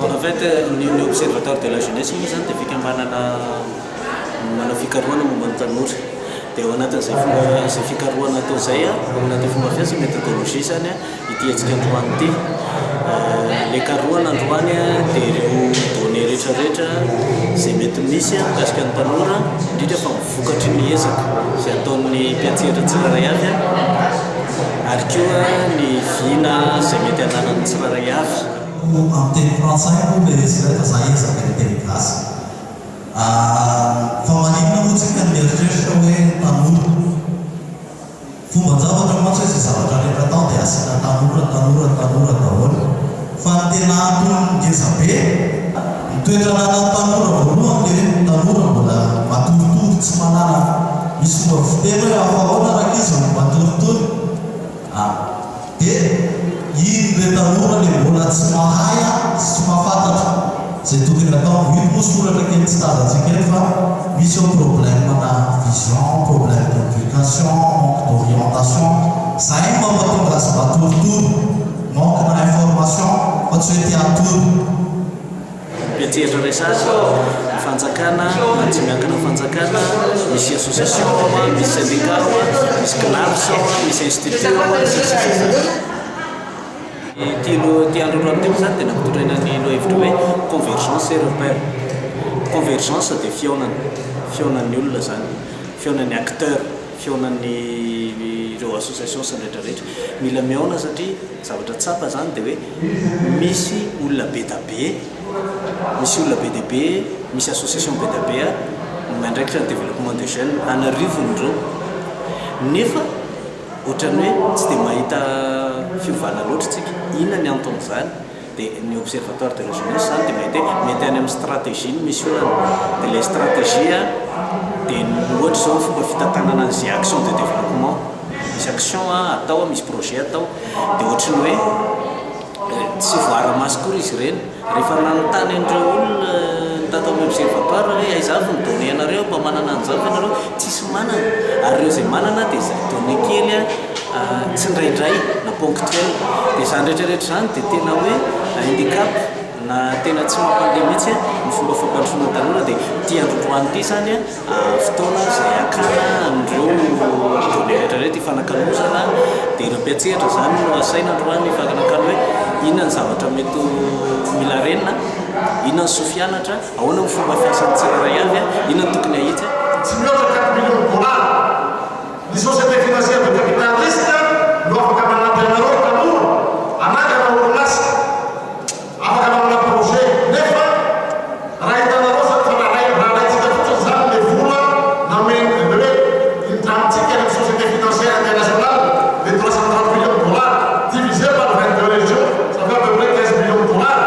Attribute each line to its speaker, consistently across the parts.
Speaker 1: En fait ny ny observatoire de la jeunesse moa zany dia fikambanana manao fikarohana momba ny tanora dia ao anatin'izay fomba izay fikarohana atao izay na dia fomba fiasa methodologie izany a Ity hetsika androany ity. Ilay karohana androany dia ireo données rehetra rehetra izay mety misy mikasika ny tanora, indrindra fa ny vokatry ny ezaka izay ataon'ny mpiantsehatra tsirairay avy ary koa ny vina izay mety hananan'ny tsirairay avy. Amin'ny teny
Speaker 2: frantsay moa ilay hetsika ilay fa za hiezaka hiteny gasy. Fa maninona moa tsika mieritreritra hoe tanora? Fomban-javatra mantsy hoe izay zavatra rehetra atao dia asiana tanora, tanora, tanora daholo. Fa ny tena antony ngeza be, ny toetra ananan'ny tanora voalohany dia hoe ny tanora mbola matoritory, tsy manana, misy fomba fiteny hoe aohaona rankizy vao matoritory? ah. dia iny re tanora le mbola tsy mahay a sy tsy mahafantatra ze tokony atao, iny moa soratra kely tsy tazantsika eto fa misy ao problème na vision, problème d'éducation, manque d'orientation, zay no mampatonga azy matoritory, manque na information fa tsy hoe te hatory.
Speaker 1: Petsetra resaka fanjakana na tsy miankina ny fanjakana, misy association ao an, misy syndicat ao an, misy CNAPS ao an, misy institut ao an, sy ny sisa sy ny sisa. Ity loha ity andro alohan'ny teo izany dia nampitondraina ny lohahevitra hoe convergence et repère. Convergence dia fihaonana, fihaonan'ny olona izany, fihaonan'ny acteurs, fihaonan'ny ireo associations sy ny rehetra rehetra. Mila mihaona satria. Zavatra tsapa izany dia hoe misy olona be da be, misy olona be dia be, misy association be da be miandraikitra ny développement des jeunes an'arivony ireo nefa ohatran'ny hoe tsy dia mahita fiovana loatra isika. Inona ny anton'izany? Dia ny observatoire de la jeunesse izany dia mety hoe mety any amin'ny stratégie ny misy olana. Dia ilay stratégie dia ny ohatra izao ny fomba fitantanana an'izay action de développement. Misy action atao, misy projet atao dia ohatry ny hoe tsy voara-maso akory izy ireny. Rehefa nanontany an'ireo olona tato amin'ny observatoire hoe aiza avy ny données anareo mba manana an'izao ve ianareo, tsisy manana. Ary ireo izay manana dia izay données kely. tsindraindray na ponctuel dia izany rehetra rehetra izany dia tena hoe handicap na tena tsy mampandeha mihitsy ny fomba fampandrosoana tanora dia ity androndroany ity izany fotoana izay hakana an'ireo données rehetra rehetra ifanakalozana dia ireo mpiantsehatra izany no asaina androany hifanakalo hoe inona ny zavatra mety ho mila renina inona ny soa fianatra ahoana ny fomba fiasan'ny tsirairay avy inona ny tokony hahitsy
Speaker 3: Ny société financière de capital risque no afaka manampy anareo tanora hanangana orinasa, afaka manana projet nefa raha hitanareo izany fa raha alaintsika fotsiny izany ilay vola namen ny hoe indrantsika any amin'ny société financière internationale dia trois cent trente millions de dollars divisé par vingt deux régions ça fait à peu près quinze millions de dollars.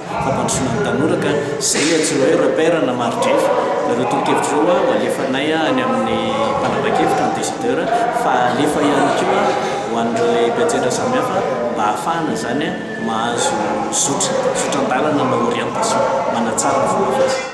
Speaker 1: fampandrosoana ny tanora ka izay ny antsoina hoe repère na margef. Ireo tolo-kevitra ireo ho alefanay any amin'ny mpanapa-kevitra, ny décideur, fa alefa ihany koa ho an'ireo lehibe an-tsehatra samihafa mba hahafahana izany mahazo zotra, zotran-dalana na orientation manatsara ny fomba fiasa.